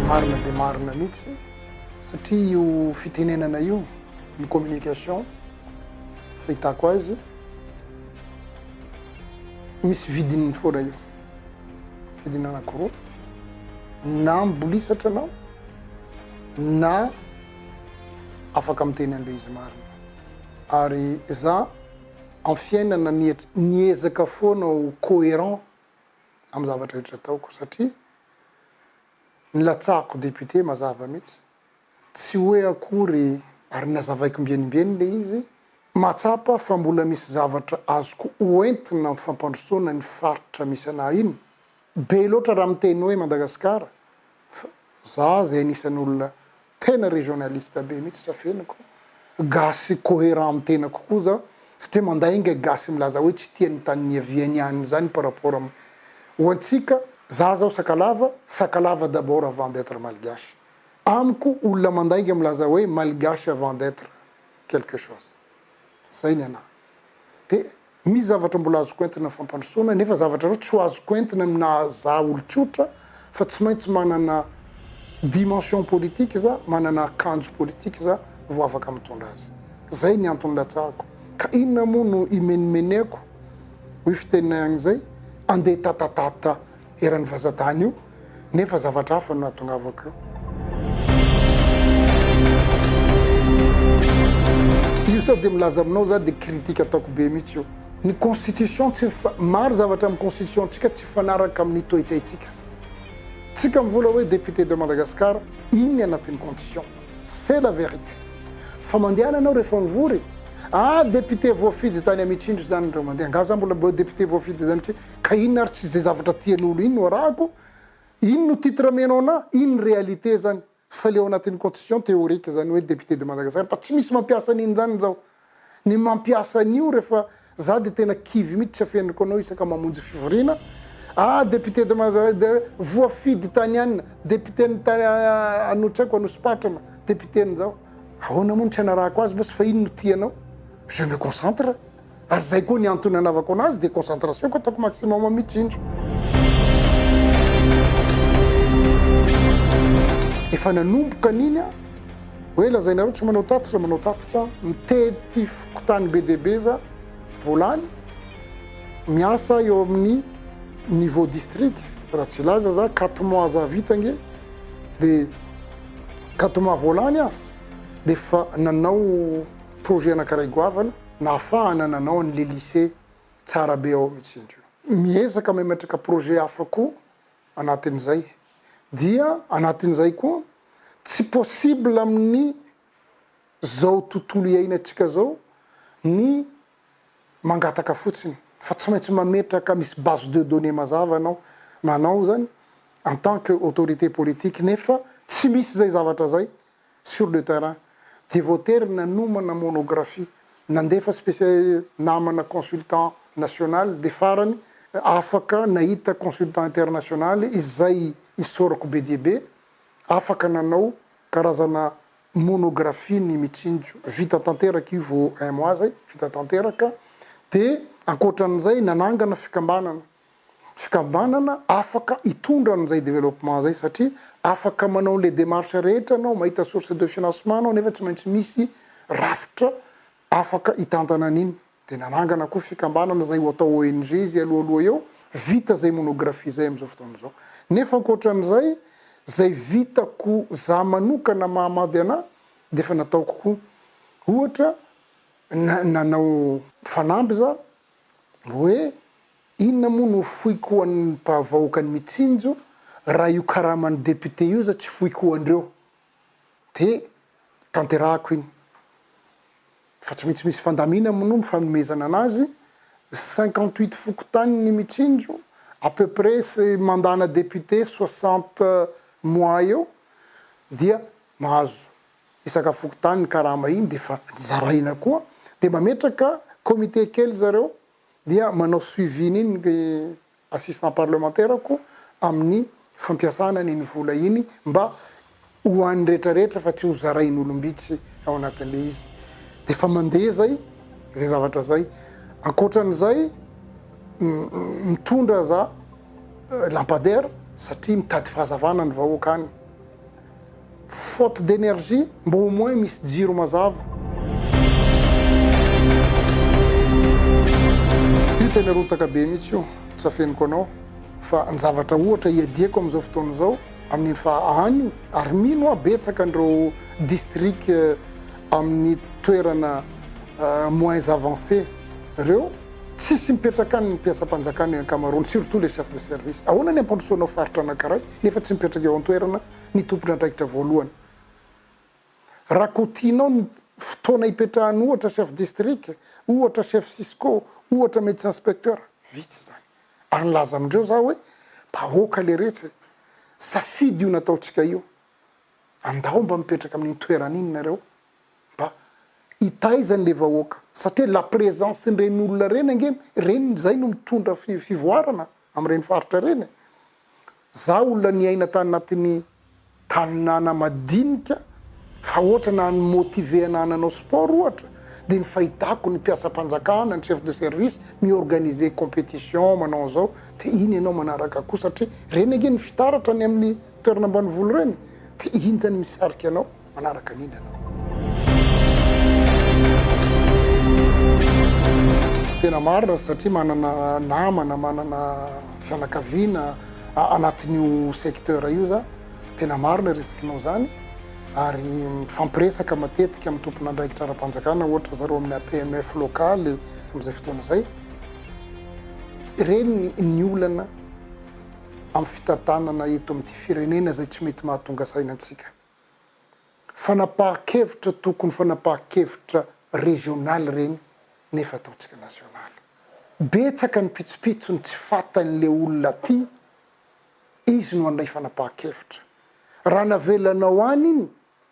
Marina dia marina mihitsy satria io fitenenana io ny communication fahitako azy misy vidiny mifoana io vidiny anakiroa na mibolisatra anao na afaka miteny an'ilay izy marina ary za am fiainana miezaka foana ho coherent am zavatra rehetra ataoko satria nilatsahako député mazava mitsy tsy hoe akory ary nazavaiko mbienimbieny le izy mahatsapa fa mbola misy zavatra azoko ho entina am fampandrosoana ny faritra misy anah iny Be loatra raha miteny hoe Madagascar fa za zay anisan'ny olona tena regionaliste be mihitsy tsy afeniko, gasy coherent amin'ny tenako koa za satria mandainga gasy milaza hoe tsy tia ny tany niaviany any zany par rapport am ho antsika za zao sakalava, sakalava d'abord avant d'etre malgache amiko olona mandainga milaza hoe malgache avant d'etre quelque chose zay ny anahy de Misy zavatra mbola azoko entina fampandrosoana nefa zavatra ireo tsy ho azoko entina ny naha za olon-tsotra fa tsy maintsy manana dimension politique za, manana akanjo politique za vao afaka mitondra azy. Zay ny antony latsahako. Ka inona moa no imenomeneko, hoy fiteninay agny zay, andeha tatatata. eran'io fahazatana io nefa zavatra hafa no nahatongavako eo. Io sao dia milaza aminao za dia critique ataoko be mihitsy io. Ny constitution tsy maro zavatra amin'ny constitution antsika tsy mifanaraka amin'ny toetsaintsika. Tsika mivola hoe député de Madagascar iny ny anatin'ny condition. C'est la vérité. Fa mandehana ianao rehefa mivory, ah député voafidy tany Amitsindry izany ireo mandeha, angaha za mbola député voafidy tany Amitsindry? Ka inona ary tsy zay zavatra tian'olo iny no arahako? Iny no titre amenao anah? Iny ny réalité zany fa le ao anatin'ny constitution théorique zany hoe député de Madagascar fa tsy misy mampiasa an'iny zany zao. Ny mampiasa an'io refa za de tena kivy mitsy tsy afenriko anao isaka mamonjy fivoriana ah député de Mada voafidy tany an député ny tany ano tsy aiko Anosipatrana député ny zao. Ahoana moa no tsy anarahako azy boss fa iny no tianao? Je me concentre. Ary izay koa ny antony anaovako anazy dia concentration ko ataoko maximum mitsy indro. Efa nanomboka an'iny a! Hoe lazainareo tsy manao tatitra, manao tatitra, mitety fokontany be dia be za, vao lany, miasa eo amin'ny niveau district, raha tsy hilaza za quatre mois za vita ange, dia quatre mois vao lany aho, dia efa nanao projet anankiray goavana, Nahafahana nanao an le lycée tsara be ao mitsy indry io. Miezaka mametraka projet hafa koa anatin'izay dia anatin'izay koa tsy possible amin'ny zao tontolo iainantsika zao ny mangataka fotsiny fa tsy maintsy mametraka misy base de données mazava anao manao zany en tant que autorité politique nefa tsy misy zay zavatra zay sur le terrain dia voatery nanomana monographie, nandefa spécialiste, namana consultant national dia farany afaka nahita consultant international izay isaorako be dia be, afaka nanao karazana monographie ny Mitsinjo, vita tanteraka io vao un mois zay, vita tanteraka, dia ankoatran'izay nanangana fikambanana, fikambanana afaka hitondra an'izay développement izay satria afaka manao an'ilay démarche rehetra anao, mahita source de financement anao nefa tsy maintsy misy rafitra afaka hitantana an'iny. Dia nanangana koa fikambanana izay ho atao ONG izy alohaloha eo, vita izay monographie izay amin'izao fotoana izao. Nefa ankoatran'izay, izay vitako izaho manokana mahamady anà dia efa nataoko koa. Ohatra, na- nanao fanamby izaho Hoe inona moa no foiko ho an'ny mpahavahoakan'i Mitsinjo raha io karaman'ny député io aza tsy foiko ho andreo de tanterahako iny fa tsy maintsy misy fandamina moa ny fanomezana anazy cinquante huit fokontanin'i Mitsinjo à peu près sy mandat-na député soixante mois eo dia mahazo isaka fokontany ny karama iny dia efa zaraina koa dia mametraka comité kely zareo dia manao suivi ny ny assistant parlementaire ko amin'ny fampiasana ny ny vola iny mba ho an'ny rehetra rehetra fa tsy ho zarain'olombitsy ao anatin'ilay izy dia efa mandeha zay zay zavatra zay ankoatran'izay mitondra za lampadaire satria mitady fahazavana ny vahoaka any Faute d'energie mba au moins misy jiro mazava. Io tena rotaka be mihitsy io, tsy afeniko anao fa ny zavatra ohatra iadiako amin'izao fotoana izao amin'iny fa any io ary mino aho betsaka an'ireo district amin'ny toerana moins avancé ireo tsisy mipetraka any ny mpiasam-panjakana ny ankamaroany surtout les chefs de service. Ahoana ny hampandrosoanao faritra anankiray nefa tsy mipetraka eo an-toerana ny tompon'andraikitra voalohany. Raha kotihinao ny fotoana ipetrahan'ny ohatra chef district, ohatra chef cisco, ohatra medecin specteur, vitsy izany. Ary nilaza amindreo za hoe, vahoaka leretsy e! Safidy io nataontsika io. Andao mba mipetraka amin'iny toerana iny nareo mba hitaiza an'le vahoaka satria la présence-n'ireny olona ireny ange ireny izay no mitondra fivoarana amin'ireny faritra ireny e. Za olona niaina tanatin'ny tanàna madinika fa ohatra naha ny motiver ana hananao sport ohatra dia ny fahitako ny mpiasam-panjakana, ny chef de service mi-organiser competition manao an'izao dia iny ianao manaraka koa satria ireny ange ny fitaratra any amin'ny toerana ambanivolo ireny dia iny zany misarika anao. manaraka ny inona ianao. Tena marina satria manana namana, manana fianakaviana anatin'io secteur io za, tena marina resakinao zany ary mifampiresaka matetika amin'ny tompon'andraikitra ara-panjakana ohatra zareo amin'ny APMF localy amin'izay fotoana izay. Ireny ny olana amin'ny fitantanana eto amin'ity firenena izay tsy mety mahatonga saina antsika. fanapahan-kevitra tokony fanapahan-kevitra régional ireny nefa ataontsika national. Betsaka ny pitsopitso ny tsy fatan'ilay olona aty, izy no handray fanapahan-kevitra. Raha navelanao any iny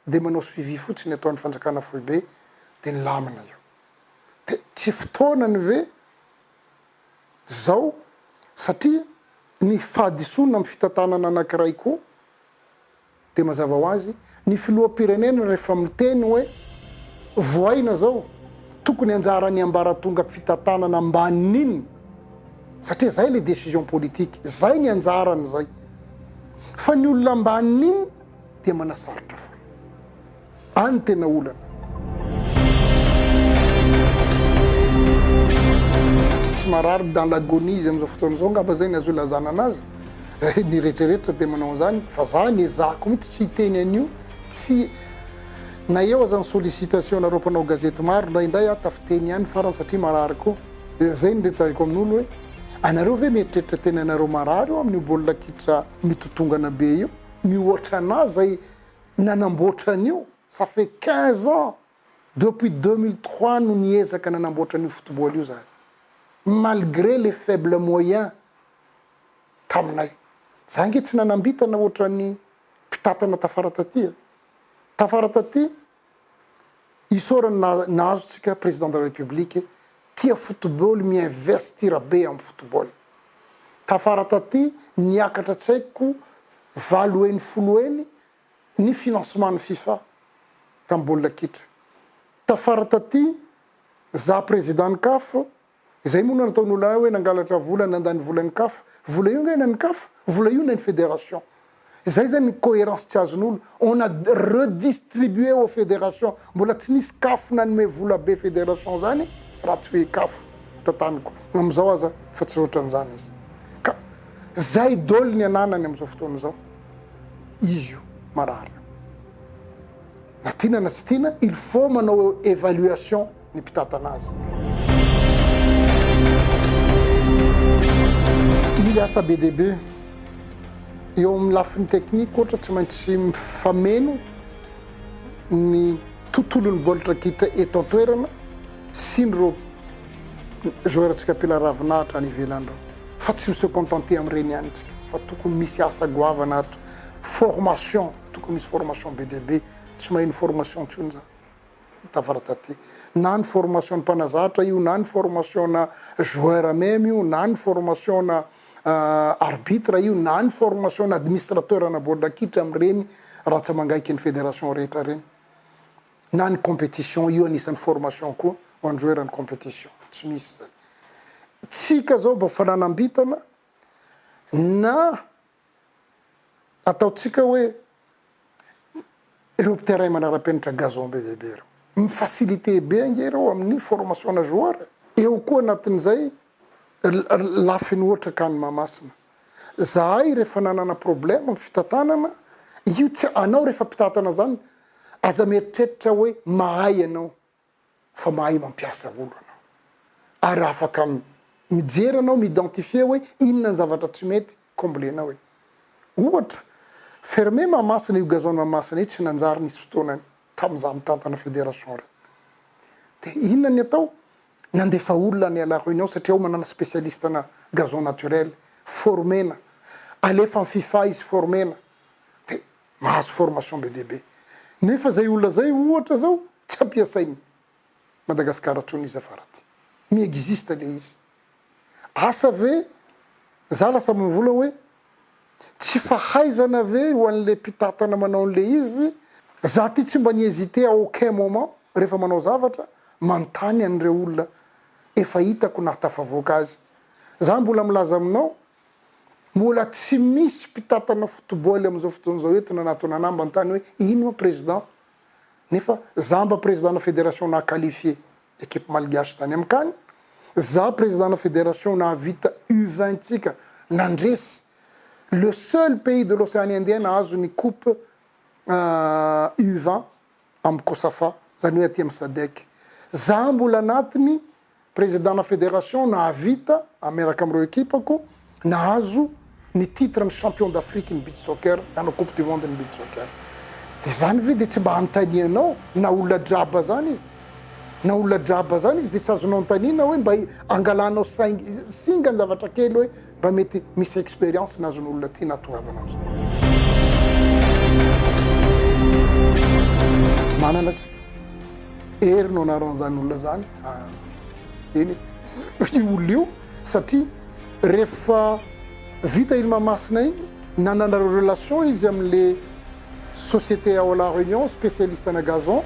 dia manao suivi fotsiny ataon'ny fanjakana foibe dia nilamina io. Dia tsy fotoanany ve zao satria ny fahadisoana amin'ny fitantanana anankiray koa Dia mazava ho azy, ny filoham-pirenena rehefa miteny hoe voaina izao, tokony anjaran'ny ambaratonga fitantanana ambanin'iny, satria izay ilay décision politique, izay ny anjarany izay. Fa ny olona ambanin'iny dia manasarotra foana. Any tena olana. Tsy marary dans l'agonie izy amin'izao fotoana izao angamba izay ny azo ilazana anazy. Ny rehetrarehetra dia manao an'izany. Fa za ny ezahako mihitsy tsy hiteny an'io, tsy na eo aza ny sollicitation-nareo mpanao gazety maro indraindray aho tafiteny ihany farany satria marary koa. Dia zay ny retrahiko amin'olo hoe anareo ve mieritreritra tena ianareo marary eo amin'io baolina kitra mitotongana be io? Mihoatra anah zay. Nanamboatra an'io, ça fait quinze ans, depuis deux mille trois no niezaka nanamboatra an'io football io izahay, malgré les faibles moyens taminay. Izahay ange tsy nanam-bintana ohatran'ny mpitantana tafara taty e! Tafara taty, Isaorana na nahazo tsika président de la république tia football mi investir be am football. Tafara taty niakatra tsy haiko valo heny folo heny ny financement ny fifa tam baolina kitra. Tafara taty za président ny caf Izay moa no nataon'olona hoe nangalatra vola nandany volan'ny caf. Vola io ange nen'ny caf, vola io nen'ny federation. Izay zany ny coherence tsy azon'olo. On a redistribué aux fédérations. Mbola tsy nisy caf nanome vola be federation zany raha tsy hoe caf tantaniko. Amizao aza efa tsy otran'izany izy. Ka zay dol ny ananany amizao fotoana izao. Izy io marary io. Na tiana na tsy tiana il faut manao evaluation. ny mpitantana azy. Mila asa be dia be eo amin'ny lafiny teknika ohatra, tsy maintsy mifameno ny tontolon'ny baolitra kitra eto an-toerana sy ny reo joueur-ntsika mpila ravinahitra any ivelany ireo fa tsy mi-se contenter amin'ireny ihany isika fa tokony misy asa goavana ato, formation, tokony misy formation be dia be, tsy maheno formation intsony izany. tafara taty na ny formation ny mpanazatra io na ny formation na joueur meme io na ny formation na arbitre io na ny formation na administrateur na baolina kitra amin'ireny ratsamangaiky ny fédération rehetra ireny na ny compétition io anisan'ny formation koa ho an'ny joueur ny compétition tsy misy zany tsika zao mba fananam-bitana na Ataontsika hoe ireo terrain manara-penitra gazon be dia be ireo. Mi-faciliter be ange ireo amin'ny formation ana joueur e. Eo koa anatin'izay lafiny ohatra CAN Mahamasina. Zahay rehefa nanana problème amin'ny fitantanana, io tsy anao rehefa mpitatana izany aza mieritreritra hoe mahay ianao. fa mahay mampiasa olo anao ary afaka mijery anao mi-identifier hoe inona ny zavatra tsy mety comblenao e. Ohatra, ferme Mahamasina io gazon Mahamasina io tsy nanjary nisy fotoanany tamin'ny za mitantana federation reo. De inona ny atao? Nandefa olona any à la reunion satria ao manana specialiste na gazon naturel, former-na, alefa am fifa izy former-na. De mahazo formation be dia be nefa zay olona zay ohatra zao tsy ampiasainy Madagascar tsony izy afaraty mi existe le izy asa ve za lasa mvola oe tsy fahaizana ve ho anle mpitatana manao anle izy za ty tsy mba ni hesite à aucun moment refa manao zavatra manontany anreo olona efa hitako nahatafavoaka azy za mbola milaza aminao Mbola tsy misy mpitantana football amin'izao fotoana izao eto nanatona an'Amba an-tany hoe ino ma président? Nefa za mba président-na fédération naha qualifier équipe malgache tany amin-kany, za président-na fédération nahavita U vingt tsika nandresy le seul pays de l'océan indien nahazo ny coupe U vingt amin'ny Cosafa, izany hoe aty amin'ny Sadec. Izaho mbola anatin'ny prezidana federation nahavita miaraka amin'ireo ekipako nahazo ny titre ny champion d'Afrique ny beach soccer, nanao coupe du monde ny beach soccer. Dia izany ve dia tsy mba anontanianao na olona draba izany izy? Na olona draba izany izy dia tsy azonao anontaniana hoe mba angalanao saingy singa ny zavatra kely hoe Mba mety misy expérience nazon'olona ty natoavana azy. Manana tsy hery no anaran'izany olona izany ah, eny izy io olona io satria rehefa vita iny Mahamasina iny nanana relation izy amin'le société ao La Réunion spécialiste ana gazon,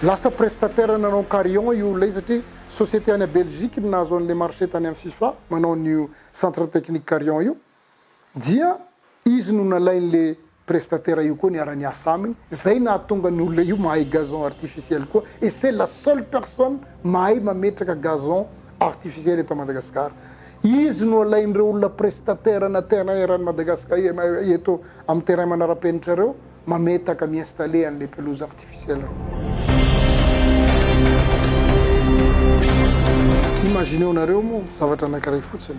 lasa prestataire nanao carillon io olona io satria Société any Belgique no nahazo an'ilay marché tany amin'ny Fifa manao an'io Centre Technique Carion io dia izy no nalain'ilay prestataire io koa niara-niasa aminy, izay nahatonga ny olona io mahay gazon artificiel koa et c'est la seule personne mahay mametraka gazon artificiel eto Madagascar. Izy no alain'ireo olona prestataire ana terrain eran'i Madagascar eto amin'ny terrain manara-penitra ireo. mametaka, mi-installer an'ilay pelouse artificielle reo. Imagineo-nareo moa zavatra anankiray fotsiny,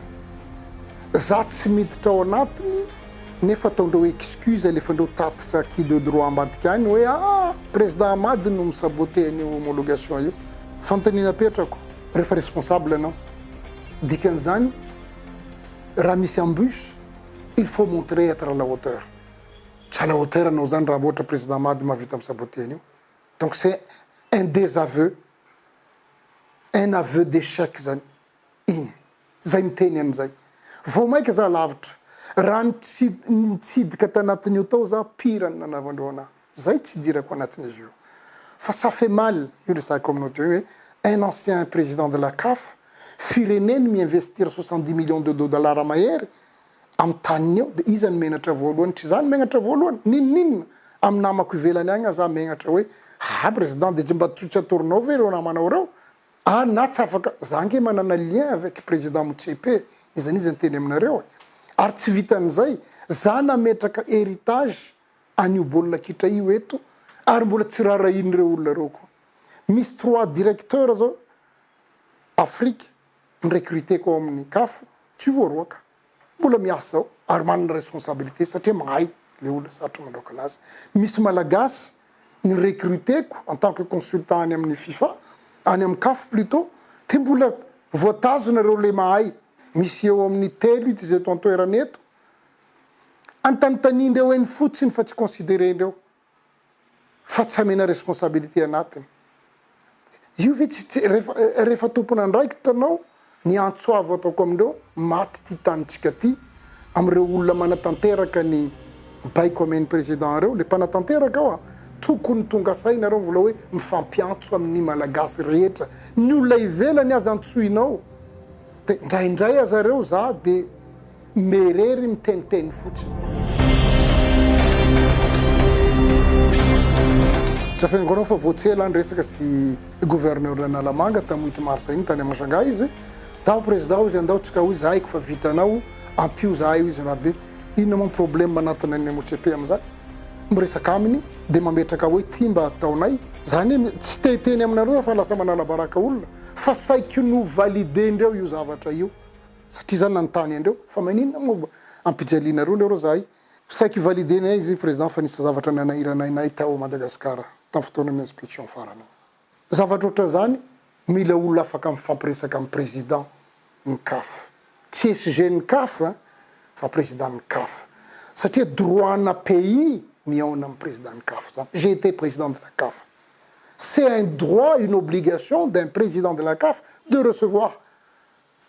za tsy miditra ao anatiny nefa ataondreo excuse, alefandreo tatitra qui de droit ambadika any hoe ah! Président Hamady no mi-saboter an'io homologation io. Fanontaniana apetrako, rehefa responsable ianao, dikan'izany raha misy embûche, il faut montrer être à la hauteur. Tsy à la hauteur anao zany raha ohatra président Mady mahavita mi saboter an'io. Donc c'est un désaveu, un aveu d'échec zany iny. Zay miteny an'izay. Vao maika za lavitra. Raha nitsidika tanatin'io tao za pire ny nanaovan'ireo anahy. Zay tsy idirako anatin'izy io. Fa ça fait mal io resahiko aminao teo io hoe un ancien président de la CAF, fireneny mi investir soixante dix millions de dollars mahery Amin'ny taniny eo dia iza no menatra voalohany? Tsy za no menatra voalohany? N'inon'inona? Amin'ny namako ivelany agny aza aho menatra hoe haa président dia tsy mba tsy atoronao ve ireo namanao ireo? Aa na tsy afaka, za ange manana lien avec président Motsepe e, iza n'iza niteny aminareo e? Ary tsy vitan'izay, za nametraka héritage an'io baolina kitra io eto ary mbola tsy rarahian'ireo olona ireo koa. Misy trois directeurs zao Afrique Ni-recruter-ko ao amin'ny caf, tsy ho voaroaka. Mbola miasa zao ary manana responsabilité satria mahay le olona sarotra mandraoka anazy. Misy Malagasy ni-recruter-ko en tant que consultant any amin'ny fifa, any amin'ny caf plutôt, dia mbola voatazona ireo le mahay. Misy eo amin'ny telo ito izay eto an-toerana eto. Antanintaniandreo eny fotsiny fa tsy considerer-ndreo. fa tsy amena responsabilité anatiny. Io ve tsy rehefa rehefa tompon'andraikitra anao ny antso avo ataoko amindreo maty ity tanintsika ty amin'ireo olona manatanteraka ny baiko amen'ny président ireo le mpanatanteraka ao a tokony tonga saina nareo mvola hoe mifampiantso amin'ny malagasy rehetra ny olona ivelany aza antsoinao Dia indraindray aza ireo izaho dia mierery miteniteny fotsiny. Tsy afeniko anao fa vao tsy ela niresaka sy gouverneur Analamanga tamin'ny huit mars iny tany Mashangahy izy. Daho président hoy izy andao tsika hoy izy haiko fa vitanao ampio izahay hoy izy Rabe. Inona moa ny problème manatona ny MOCP amin'izany? Miresaka aminy dia mametraka hoe ity mba ataonay. Izaho anie tsy te hiteny aminareo aho fa lasa manala baraka olona. Fa saiky no valider-ndreo io zavatra io satria za nanontany an-dreo fa maninona moa ba ampijaliana roa leroa zahay? Saiky valider-nay izy Président fa nisy zavatra nanahiranay nay tao Madagascar tamin'ny fotoanan'ny inspection farany. Zavatra ohatran'izany mila olona afaka mifampiresaka amin'ny Président ny caf. Tsy SG ny caf an fa Président ny caf satria droit-na pays mihaona amin'ny Président ny caf zany. J'ai été Président de la caf. C'est un droit, une obligation d'un président de la caf de recevoir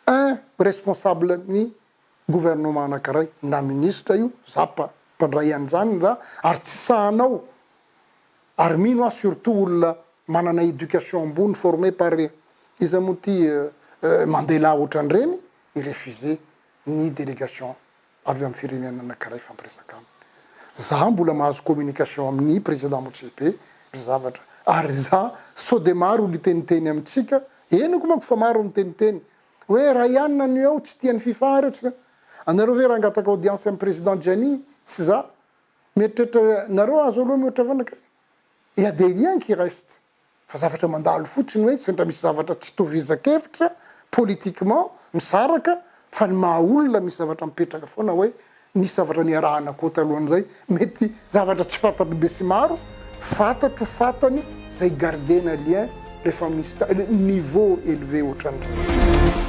un responsable ny gouvernement anankiray, na ministra io, za mpandray an'izany za, ary tsy sahanao, ary mino aho surtout olona manana éducation ambony formé par iza moa ity Mandela ohatran'ireny, i refuser ny délégation avy amin'ny firenena anankiray hifampiresaka aminy. Zah mbola mahazo communication amin'ny Président Motsepe ry zavatra ary ry zah sao dia maro ry teniteny amintsika, henoko manko fa maro ny teniteny hoe Ryan anio ao tsy tian'ny fifa ireo tsy anareo ve raha hangataka audience amin'ny Président Gianni sy zah mieritreritra nareo azo aloha mihoatra fanaka e! Et à des liens qui restent. Fa zavatra mandalo fotsiny hoe sendra misy zavatra tsy itovizan-kevitra politiquement misaraka fa ny maha olona misy zavatra mipetraka foana hoe nisy zavatra niarahana koa talohan'izay mety zavatra tsy fantan'ny besimaro fantatro fantany izay gardena lien rehefa misy niveau élevé ohatran'ireny.